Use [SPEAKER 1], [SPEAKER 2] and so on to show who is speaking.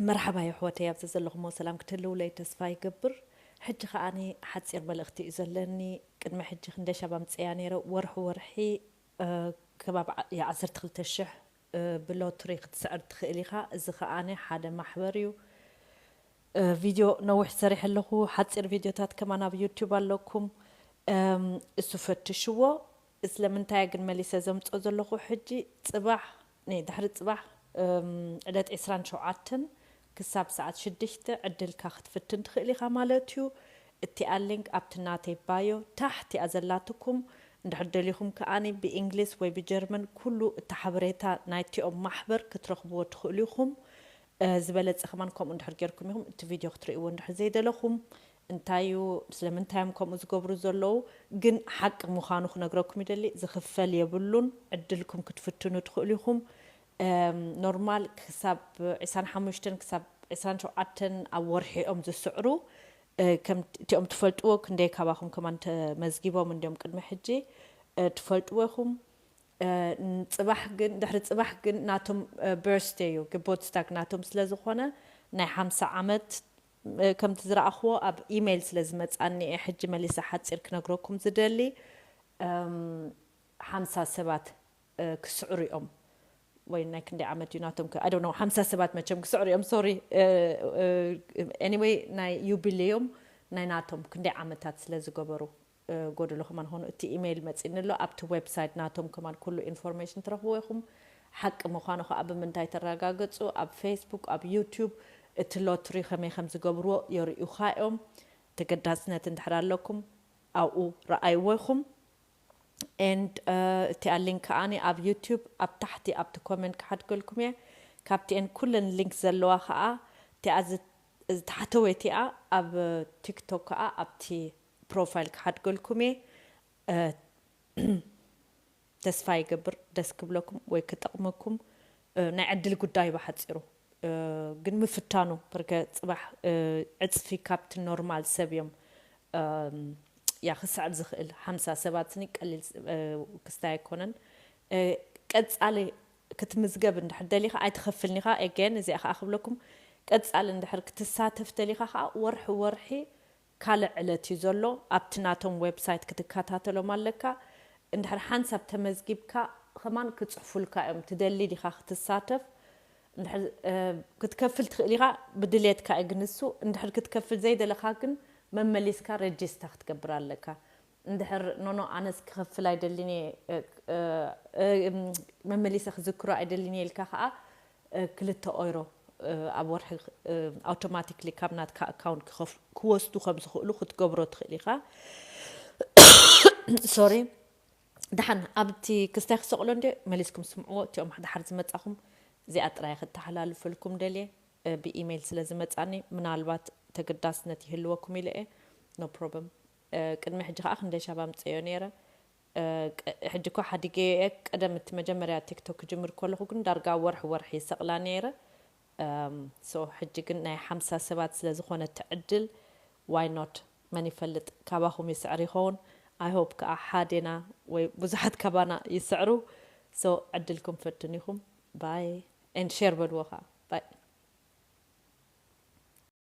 [SPEAKER 1] መርሓባ የሕወተይ ኣብ ዘዘለኹሞ ሰላም ክትህልውለይ ተስፋ ይገብር ሕጂ ከኣ ሓጺር መልእኽቲ እዩ ዘለኒ ቅድሚ ሕጂ ክንደሻብ ኣምጽያ ነይረ ወርሒ ወርሒ ከባቢ ዓሰርተ ክልተ ሽሕ ብሎትሪ ክትስዕር ትኽእል ኢኻ እዚ ከኣ ሓደ ማሕበር እዩ ቪድዮ ነዊሕ ሰሪሐ ኣለኹ ሓጺር ቪድዮታት ከማን ኣብ ዩቱብ ኣለኩም እሱ ፈትሽዎ ስለምንታያ ግን መሊሰ ዘምጾ ዘለኹ ሕጂ ጽባሕ ነይ ድሕሪ ጽባሕ ዕለት ዕስራን ሸውዓተን ክሳብ ሰዓት ሽድሽተ ዕድልካ ክትፍትን ትኽእል ኢኻ ማለት እዩ እቲኣ ሊንክ ኣብቲ ናተይ ባዮ ታሕት እያ ዘላትኩም እንድሕር ደሊኹም ከኣ ብእንግሊዝ ወይ ብጀርመን ኩሉ እቲ ሓበሬታ ናይቲኦም ማሕበር ክትረኽብዎ ትኽእሉ ኢኹም ዝበለጸ ከማን ከምኡ እንድሕር ጌርኩም ኢኹም እቲ ቪድዮ ክትርእይዎ እንድሕር ዘይደለኹም እንታይ እዩ ስለምንታይ እዮም ከምኡ ዝገብሩ ዘለዉ ግን ሓቂ ምኻኑ ክነግረኩም ይደሊ ዝኽፈል የብሉን ዕድልኩም ክትፍትኑ ትኽእሉ ኢኹም ኖርማል ክሳብ ዕስራን ሓሙሽተን ክሳብ ዕስራን ሸውዓተን ኣብ ወርሒ እዮም ዝስዕሩ ከምቲኦም ትፈልጥዎ ክንደይ ካባኹም ከማን ተመዝጊቦም እንድዮም ቅድሚ ሕጂ ትፈልጥዎ ኢኹም ጽባሕ ግን ድሕሪ ጽባሕ ግን ናቶም በርስደይ እዩ ግቦት ስታግ ናቶም ስለ ዝኾነ ናይ ሓምሳ ዓመት ከምቲ ዝረኣኽዎ ኣብ ኢመይል ስለ ዝመጻኒ እየ ሕጂ መሊሰ ሓጺር ክነግረኩም ዝደሊ ሓምሳ ሰባት ክስዕሩ እዮም ወይ ናይ ክንደይ ዓመት እዩ ናቶም ከ ኣይ ነው ሓምሳ ሰባት መቸም ክስዕሩ እዮም ሶሪ ኤኒወይ ናይ ዩቢሌዮም ናይ ናቶም ክንደይ ዓመታት ስለ ዝገበሩ ጎደሎ ከማን ኾኑ እቲ ኢመይል መጺኒ ኣሎ ኣብቲ ዌብሳይት ናቶም ከማን ኩሉ ኢንፎርሜሽን ትረኽብዎ ኢኹም ሓቂ ምዃኑ ኸኣ ብምንታይ ተራጋግጹ ኣብ ፌስቡክ ኣብ ዩቱብ እቲ ሎትሪ ከመይ ከም ዝገብርዎ የርእዩኻ እዮም ተገዳስነት እንድሕር ኣለኩም ኣብኡ ረኣይዎ ኢኹም and እቲኣ link ከኣ ኣብ ዩቱብ ኣብ ታሕቲ ኣብቲ ኮመንት ክሓድገልኩም እየ ካብቲኤን ኩለን link ዘለዋ ከኣ እቲኣ ዝታሕተወይቲኣ ኣብ ቲክቶክ ከኣ ኣብቲ ፕሮፋይል ክሓድገልኩም እየ ተስፋ ይገብር ደስ ክብለኩም ወይ ክጠቕመኩም ናይ ዕድል ጉዳይ ብሓጺሩ ግን ምፍታኑ ርከ ጽባሕ ዕጽፊ ካብቲ ኖርማል ሰብ እዮም ያ ክስዕብ ዝኽእል ሓምሳ ሰባት ስኒ ቀሊል ክስታይ ኣይኮነን ቀጻሊ ክትምዝገብ እንድሕር ደሊኻ ኣይትኸፍልን ኢኻ ኤገን እዚኣ ከዓ ክብለኩም ቀጻሊ እንድሕር ክትሳተፍ ደሊኻ ከዓ ወርሒ ወርሒ ካልእ ዕለት እዩ ዘሎ ኣብቲ ናቶም ዌብሳይት ክትከታተሎም ኣለካ እንድሕር ሓንሳብ ተመዝጊብካ ከማን ክጽሕፉልካ እዮም ትደሊ ዲካ ክትሳተፍ እንድሕር ክትከፍል ትክእል ኢካ ብድሌትካ እዩ ግንሱ እንድሕር ክትከፍል ዘይደለካ ግን መመሊስካ ረጂስታ ክትገብር ኣለካ እንድሕር ኖኖ ኣነስ ክኸፍል ኣይደልን እየ መመሊሰ ክዝክሮ ኣይደልን እየ ኢልካ ከኣ ክልተ ኦይሮ ኣብ ወርሒ ኣውቶማቲክሊ ካብ ናትካ ኣካውንት ክወስዱ ከም ዝኽእሉ ክትገብሮ ትኽእል ኢኻ ሶሪ ደሓን ኣብቲ ክስታይ ክሰቕሎ እንደ መሊስኩም ስምዕዎ እቲኦም ደሓር ዝመጻኹም እዚኣ ጥራይ ክተሓላልፈልኩም ደልየ ብኢሜይል ስለ ዝመጻኒ ምናልባት ተገዳስነት ይህልወኩም ኢለ እየ ኖ ፕሮብም ቅድሚ ሕጂ ከኣ ክንደይ ሻብ ኣምጸዮ ኔረ ሕጂ እኮ ሓዲገዮ እየ ቀደም እቲ መጀመርያ ቲክቶክ ክጅምር ከለኩ ግን ዳርጋ ወርሒ ወርሒ ይሰቅላ ኔረ so ሕጂ ግን ናይ ሓምሳ ሰባት ስለ ዝኮነ እቲ ዕድል why not መን ይፈልጥ ካባኩም ይስዕር ይከውን i hope ከኣ ሓዴና ወይ ብዙሓት ካባና ይስዕሩ so ዕድልኩም ፈትኑ ኢኩም bye and share በልዎ ከኣ bye።